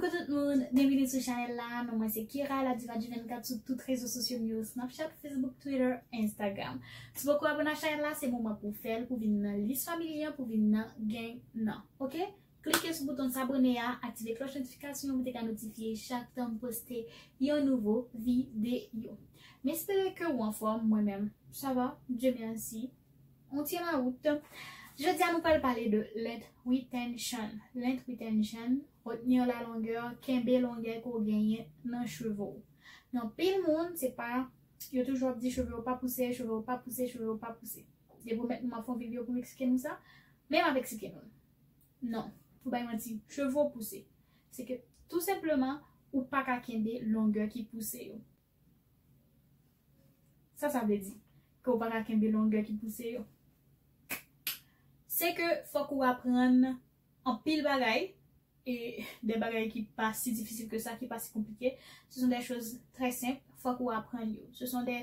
Coucou tout moun, byenvini sou chanèl la, non mwen se Kira la diva du 24 sou tout rezo sosyo m yo Snapchat, Facebook, Twitter, Instagram. Si poko abone ak chanèl la se moman pou w fèl pou w vin nan lis family an pou w vin nan gang nan ok. Klike sou bouton sabone a, aktive klòch notifikasyon pou te ka notifye chak tan m poste yon nouvo videyo. M espere ke ou anfòm, mwen menm sa va, Dye merci, on tient la route. Jodi a nou pral pale de length retention, length retention, retenir la longueur, kenbe longè ke w genyen nan cheve w. Nan pil moun se pa, yo toujou ap di cheve yo pa pouse, cheve yo pa pouse, cheve yo pa pouse. Depi ou mèt nou m ap fè yon videyo pou m eksplike nou sa, men m ap eksplike nou l. Non, pou bay manti, chevo pouse. Se ke tou senpleman ou pa ka kenbe longè ki pouse yo. Sa sa vle di? Ke ou pa ka kenbe longè ki pouse yo? Se ke fòk ou aprann anpil bagay e de bagay ki pa si difisil ke sa, ki pa si konplike. Se son de choz trè senp, fòk ou aprann yo. Se son de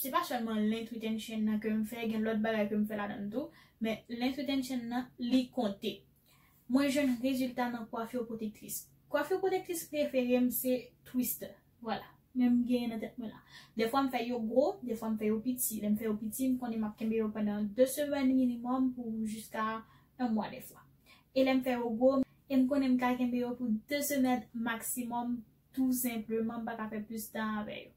Se pa sèlman link retention nan ke m fè gen lòt bagay ke m fè ladan l tou, men link retention nan li konte. Mwen jwenn rezilta nan coiffure protectrice. Coiffure protectrice prefere m se twister. Vwala. Men m genyen nan tèt mwen la. Dèfwa m fè yo gwo, dèfwa m fè yo piti. Lè m fè yo piti, m konnen m ap kenbe yo pandan 2 semèn minimum pou jiska 1 mwa dèfwa. E lè m fè yo gwo, e m konnen m ka kenbe yo pou 2 semèn maximum tou senpleman m pa ka fè plis tan avè yo.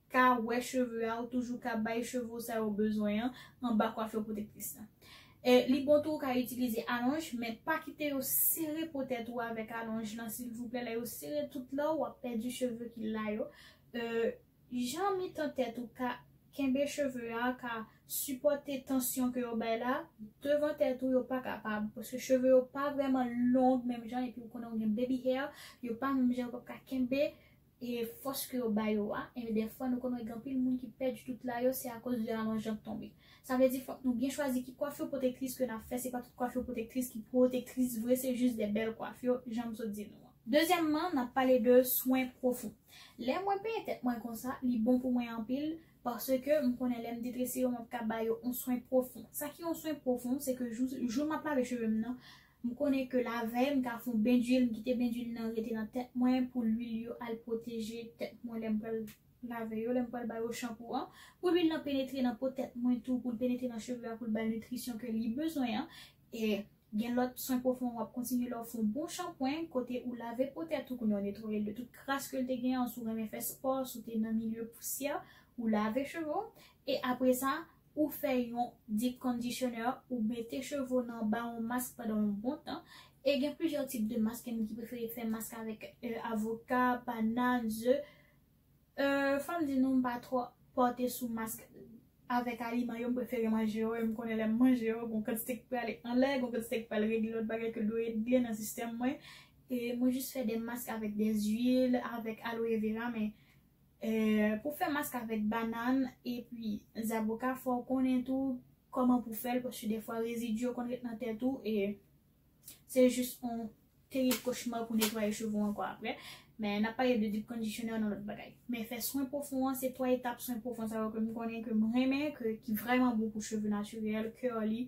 ka wè cheve a ou toujou ka bay cheve ou sa yo bezwen an anba coiffure protectrice la e li bon tou ou ka itilize alonj men pa kite yo sere po tèt ou avèk alonj lan silvouplè lè yo sere tout la ou ap pèdi cheve ki la yo e jan mitan tèt ou ka kenbe cheve a ka sipòte tansyon ke yo bay la devan tèt ou yo pa kapab paske cheve yo pa vrèman long menm jan epi ou konnen ou gen baby hair yo pa menm jan yo pap ka kenbe E fòs ke yo ba yo a, enben dè fwa nou konn wè gen anpil moun ki pèdi tout la yo se akoz de alonj jan k tonbe. Sa vle di fòk nou byen chwazi ki kwafi pwotektris ke nap fè se pa tout kwafi pwotektris ki pwotektris vre se jis dè bèl kwafi jan m sot di nou an. Dezyèmman nap pale de swen pwofon. Lè mwen penyen tèt mwen konsa li bon pou mwen anpil paske m konnen lè m detrese yo map ka ba yo on swen pwofon. Sa ki on swen pwofon se ke jou jou map lave cheve m nan M konnen ke lavèy m ta fon ben duil m kite ben duil nan rete nan tèt mwen pou luil yo al pwoteje tèt mwen lèm pral lave yo lèm pral ba yo chanpou an pou luil lan penetre nan po tèt mwen tou poul penetre nan cheve a poul bal nitrisyon ke li bezwen an e gen lòt swen pwofon wap kontinye lèw fon bon chanpwen kote ou lave po tèt ou kounye a ou netwayel de tout kras kel te gen an si w renmen fè spò si w te nan milye pousyè ou lave cheve w e apresa Ou fè yon deep conditioner, ou mete cheve w nan ba yon mask pandan yon bon tan, e gen plizyè tip de mask, gen moun ki prefere fè mask avèk avoka, banan, ze, euh fòm di nou m pa twò pòte sou mask avèk aliman yo, m prefere manje yo, e m konnen lè m manje yo gon kantite ki prale anlè, gon kantite ki pral regle lòt bagay ke dwe regle nan sistèm mwen, e mwen jis fè de mask avèk de zwil, avèk aloe vera men. Pou fè mask avèk banann epi zaboka fòw konnen tou kòman pou fèl paske defwa rezidi yo konn ret nan tèt ou e se jis yon terib kochma pou netwaye cheve w ankò aprè men nap pale de deep conditioner nan lòt bagay men fè swen pwofon an se 3 etap swen pwofon sa yo ke m konnen ke m renmen ke ki vrèman bon pou cheve natirèl, curly,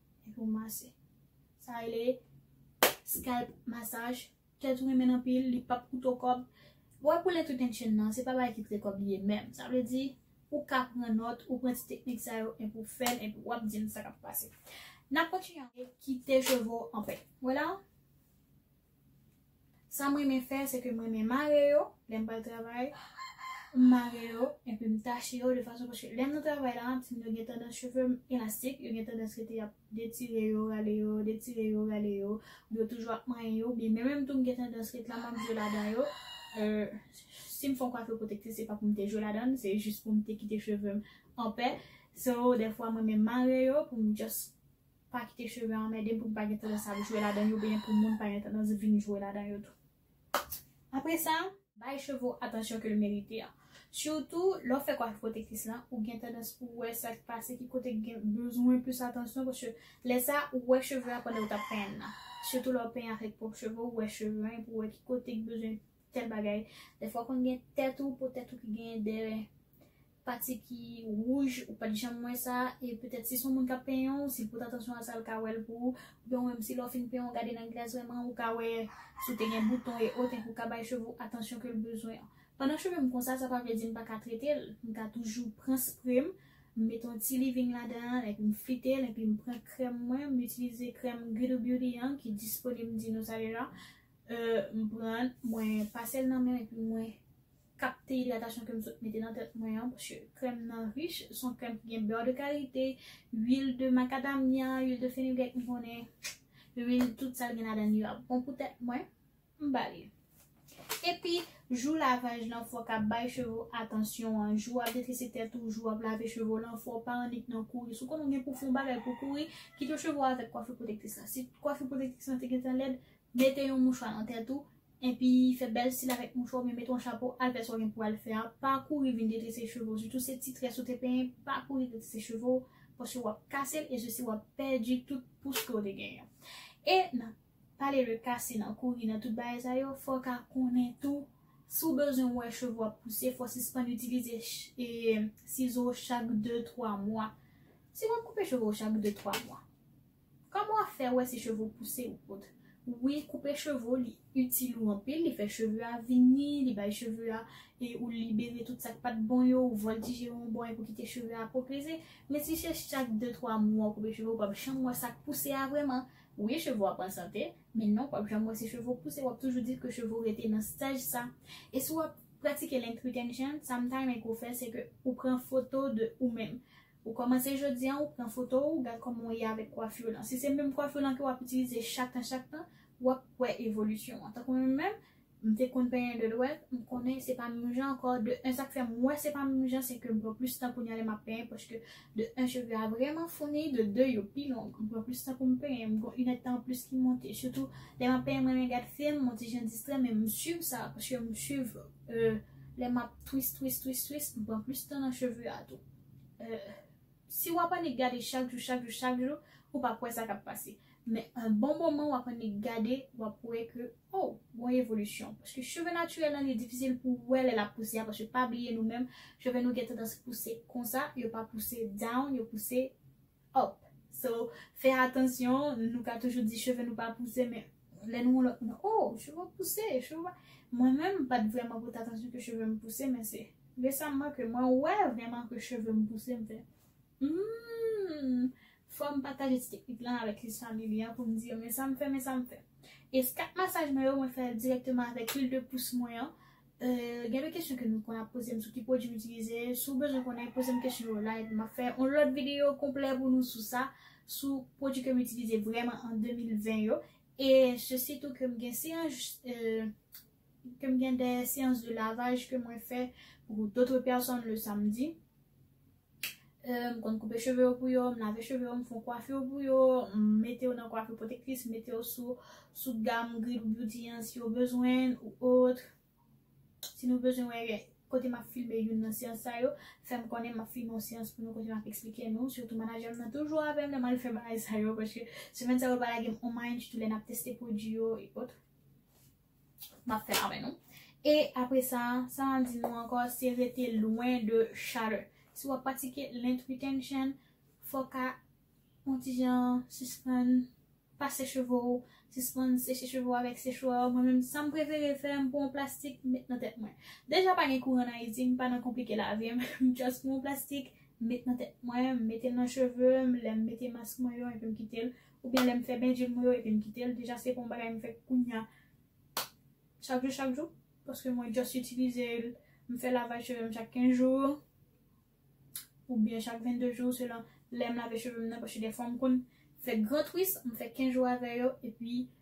Epi ou mase. Sa rele scalp massage. Tèt ou renmen anpil, li pap koute w kòb. Wè pou length retention nan, se pa bagay ki koute kòb li ye menm. Sa vle di, ou ka pran nòt, ou pran ti teknik sa yo epi w fè l epi w ap di m sa k ap pase. N ap kontinye. Kite cheve w anpè. Wè la? Sam renmen fè se ke m renmen mare yo lèm pral travay m mare yo epi m tache yo de fason paske lèm nan travay la ti m yo gen tandans chevem elastik yo gen tandans rete ap detire yo rale yo detire yo rale yo m yo toujou ap manyen yo oubyen menm menm tou m gen tandans ret la map jwe ladan yo sim fon kwafi pwotektris se pa poum te jwe ladan l se jis poum te kite chevem anpè so dèfwa m renmen mare yo poum just Pa kite cheve anmèdem pou m pa gen tandans ap jwe ladan yo oubyen pou moun pa gen tandans vin jwe ladan yo tou. Apre sa, bay cheve w atansyon ke l merite an. Sitou, lè w fè kwafi pwotektis lan, ou gen tandans pou w wè sa k pase ki kote ki gen bezwen plis atansyon paske lè sa a, ou wè cheve a pandan ou t ap penyen l lan. Sitou lè w penyen ak pwòp cheve w, ou wè cheve an epi w wè ki kote ki bezwen Tel bagay. Dèfwa konn gen tèt ou po tèt ou ki gen de pati ki wouj ou pat janm wè sa e petèt si son moun kap penyen w si l pot atansyon a sa l ka wè l pou ou oubyen ou menm si lè w fin penyen w gade nan glas vrèman ou ka wè si w te gen bouton e ot enpi w ka bay cheve w atansyon ke l bezwen. Pandan cheve m konsa sa pa vle di m paka trete l, m ka toujou pran spre m, m mete yon ti living ladan an enpi m flite l enpi m pran krèm mwen, m itilize krèm Guido Beauty an ki disponib m di nou sa deja. Euh m pran mwen pasel nan menm epi mwen kapte idratasyon kem sot mete nan tèt mwen an paske krèm nan rich son krèm ki gen beurre de karite, huile de macadamia, huile de fenugrec m konnen huile tout sal gen ladann yo ap bon pou tèt mwen m bali. Epi jou lavaj lan fok ap bay cheve w atansyon an jou wap detrese tèt ou jou wap lave cheve w lan fok w pa annik nan kouri si w konnen w gen pou w fon bagay pou w kouri kite cheve w avèk kwafi pwotektris lan si kwafi pwotektris lan te gentan lèd Mete yon mouchwa nan tèt ou, enpi fè bèl stil avèk mouchwa oubyen mete yon chapo, al fè sa w gen pou al fè a, pa kouri vin detrese cheve w, sitou se ti très ou te penyen, pa kouri detrese cheve w, paske wap kase l e sesi wap pèdi tout pous ke w te genyen. E nan pale de kase, nan kouri, nan tout bagay sa yo, fò w ka konnen tou, si w bezwen wè cheve w ap pouse, fò w sispann itilize sizo chak de twa mwa. Si wap koupe cheve w chak de twa mwa, Kòman wap fè wè si cheve ou pouse ou pot. Wi koupe cheve ou li itil ou anpil li fè cheve a vini li bay cheve a e ou libere tout sak pat bon yo ou vòltije yo yon bò epi ou kite cheve a pwogeze men si se chak 2 3 mwa ou koupe cheve ou pap janm wè sak pouse a vrèman wi cheve ou ap an sante men non pap janm wè si cheve ou pouse wap toujou di ke cheve ou rete nan staj sa e si wap pratike length retention sam ta renmen ke ou fè se ke ou pran foto de ou menm Ou kòmanse jodi an ou pran foto ou gad kòman ou ye avèk kwafi w lan. Si se menm kwafi w lan ke w ap itilize chak tan chak tan, w ap wè evolisyon an. Tankou mwen menm, m te konn penyen 2 dwèt, m konnen se pa menm jan ankò, de 1 sa k fè m wè se pa menm jan se ke m pran plis tan kounya lè m ap penyen paske de 1 cheve a vrèman founi, de 2 yo pi long, m pran plis tan pou m penyen, m gon inèdtan an plis ki monte. Sitou lè m ap penyen m renmen gad film, m on ti jan distrè men m swiv sa paske m swiv lè m ap twist twist twist twist m pran plis tan nan cheve a tou. Si w ap annik gade chak jou, chak jou, chak jou, ou p ap wè sa k ap pase. Men yon bon moman w ap annik gade, w ap wè ke o, gon evolisyon. Paske cheve natirèl lan li difisil pou w wè lè l ap pouse a, paske pa bliye nou menm, cheve nou gen tandans pouse konsa, yo pa pouse down, yo pouse. up so fè atansyon nou ka toujou di cheve nou pa pouse men lè nou yon lòt moun oh cheve w pouse cheve w pa mwen menm m pat vrèman pote atansyon ke cheve m pouse men se resamman ke mwen wè vrèman ke cheve m pouse m fè humm fò m pataje ti teknik lan avèk lis family an pou m di yo men sa m fè men sa m fè eskat masaj mwen yo mwen fè l dirèkteman avèk lwil de pous mwen an. Gen de kesyon ke nou konn ap pozem sou ki pwodwi m itilize, si w bezwen konnen pozem kesyon yo la epi map fè yon lòt videyo konplè pou nou sou sa, sou pwodwi kem itilize vrèman an 2020 yo e se sitou kem gen seyans kem gen de seyans de lavaj ke mwen fè pou dotre pèsòn le samdi. m konn koupe cheve yo pou yo, m lave cheve yo, m fon kwafi yo pou yo, m mete yo nan kwafi pwotektis, m mete yo sou gam Gridou Beauty an si yo bezwen ou otre. Si nou bezwen wè kote m ap filme youn nan seyans sa yo, fè m konnen m ap filme yon seyans pou nou kote m ap eksplike nou. Sitou manajè m nan toujou avè m lè m al fè bagay sa yo paske semèn sa yo l pa lage m on mayen ditou lè n ap teste pwodui yo e otre. Map fè avè nou. E apre sa, sa map di nou ankò se rete lwen de chalè. Si wap pratike length retention, fò ka on ti jan sispann pase cheve ou, sispann seche cheve ou avèk sechwa. Mwen menm sam prefere fè, m pran on plastik m met nan tèt mwen. Deja pa gen kouran an Ayiti, m pa nan konplike lavi m, m just pran on plastik m met nan tèt mwen, m mete l nan cheve m, lèm mete mask mwen yo epi m kite l. Oubyen lè m fè bendje mwen yo epi m kite l deja se pa yon bagay m fè kounya chak jou chak jou paske mwen just itilize l m fè lavaj cheve m chak 15 jou oubyen chak 22 jou selon lè m lave cheve m nan paske dèfwa m konn fè gran twist m fè 15 jou avè yo epi m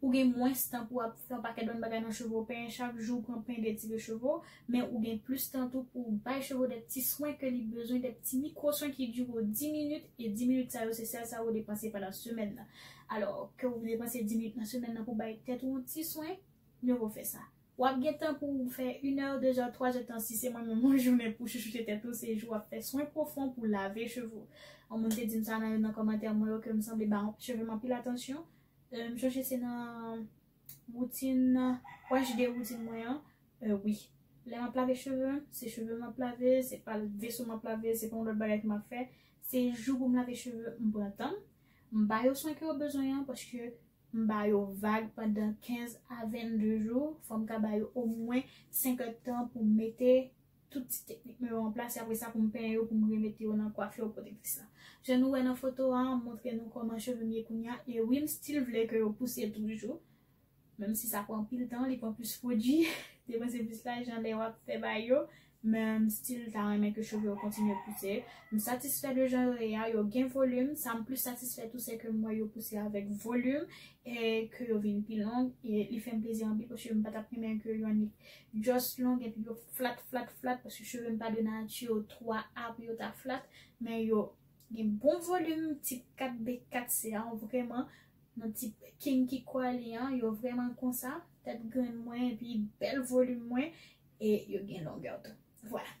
Ou gen mwens tan pou ap fè yon pakèt bon bagay nan cheve w, penyen chak jou, pran pen, detire cheve w, men ou gen plis tan tou pou w bay cheve w de ti swen ke li bezwen, de ti mikwo swen ki dire w 10 minit, e 10 minit sa yo se sèl sa ou depanse pandan semèn nan. Alò, ke ou depanse 10 minit nan semèn nan pou bay tèt ou yon ti swen, mye vo fè sa. W ap gen tan pou w fè inè, dezè, twazè tan si se mwen menm yon jounen pou chouchoute tèt ou, se jou w ap fè swen pwofon pou lave cheve w. Yon moun te di m sa nan youn nan kòmantè mwen yo ke m sanble ba cheve m anpil atansyon, M sonje se nan routine wè j de routine mwen an wi lè map lave cheve m se cheve m map lave se pa veso map lave se pa yon lòt bagay ke map fè se jou pou m lave cheve m pran tan m m ba yo swen ke yo bezwen an paske m ba yo vag pandan 15 a 22 jou fò m ka ba yo omwen 5 èd tan pou m mete Tout ti teknik mwen yo an plas e apre sa pou m penyen yo pou m remete yo nan coiffure protectrice la. Jan nou wè nan foto a, m montre nou kòman cheve m ye kounye a e wi m still vle ke yo pouse toujou. Menm si sa pran anpil tan, li pran plis pwodui, depanse plis lajan lè wap fè ba yo, men m still ta renmen ke cheve yo kontinye pouse. M satisfè de jan yo ye a, yo gen volume, sa m plis satisfè tou se ke m wè yo pouse avèk volume e ke yo vin pi long e li fè m plezi anpil paske m pa tap renmen ke yo annik. just long epi yo flat flat flat paske cheve m pa de nati yo 3 a pou yo ta flat men yo gen bon volim tip 4 de 4 se a vreman nan tip kinky kwali an yo vreman konsa tèt grenn mwen epi bèl volim mwen e yo gen longè tou vwala.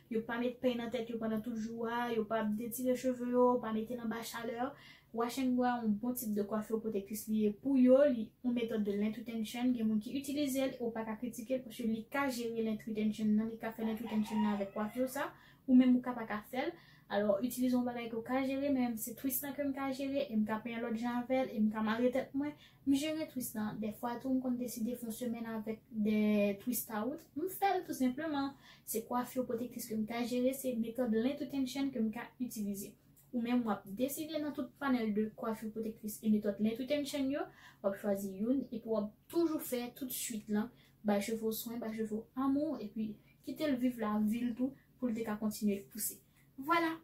Yo pa met peny nan tèt yo pandan tout jou a, yo pa detire cheve yo, pa mete nan ba chalè. Wash and Go a yon bon tip de kwafi ou pwotektis li ye pou yo, li yon metòd de length retention, gen moun ki itilize l e w pa ka kritike l paske li ka jere length retention nan, li ka fè length retention nan avèk kwafi w sa, ou menm ou ka pa ka fè l. Alò, itilize yon bagay ke w ka jere, men m se twist lan ke m ka jere e m ka penyen lòt jan avè l e m ka mare tèt mwen, M jere twist lan, dèfwa tou m konn deside fon semèn avèk 2 twist out, m fèl tou senpleman. Se kwafir pwotektis ke m ka jere, se metòd length retention ke m ka itilize. Ou menm w ap deside nan tout panèl de kwafir pwotektris e metòd length retention yo, w ap chwazi youn epi w ap toujou fè tout swit lan, bay cheve w swen, bay cheve w amou epi kite l viv lavi l tou pou l te ka kontinye pouse. Vwala!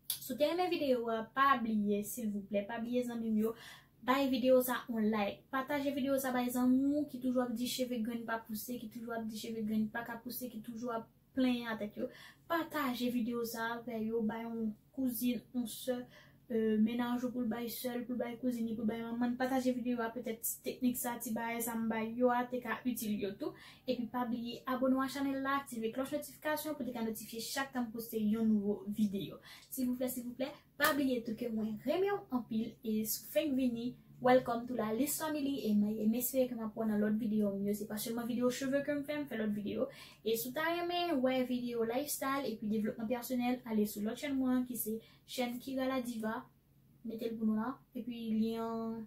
Si w te renmen video a pa bliye silvouplè pa bliye zanmi m yo bay video sa on like pataje video sa bay zanmi w ki toujou ap di cheve grenn pa pouse ki toujou ap di cheve grenn paka pouse ki toujou ap plenyen a tèt yo pataje video sa avè yo bay on kouzin on sè mennaj ou pou l bay sè l pou l bay kouzin li pou l bay manman l pataje video a petèt ti teknik sa ti bagay sa m bay yo a te ka itil yo tou. Epi pa bliye abone w a chanel la aktive klòch notifikasyon pou te ka notifye chak tan m poste yon nouvo videyo silvouplè silvouplè pa bliye tou ke mwen renmen w anpil e si w fenk vini welcome to la Liz family e m espere ke m ap wè w nan lòt videyo m yo se pa sèlman videyo cheve ke m fè m fè lòt videyo e si w ta renmen wè videyo lifestyle epi devlopman pèsonèl ale sou lòt chèn mwen an ki se chèn Kira la Diva mete l pou nou la epi lyen an.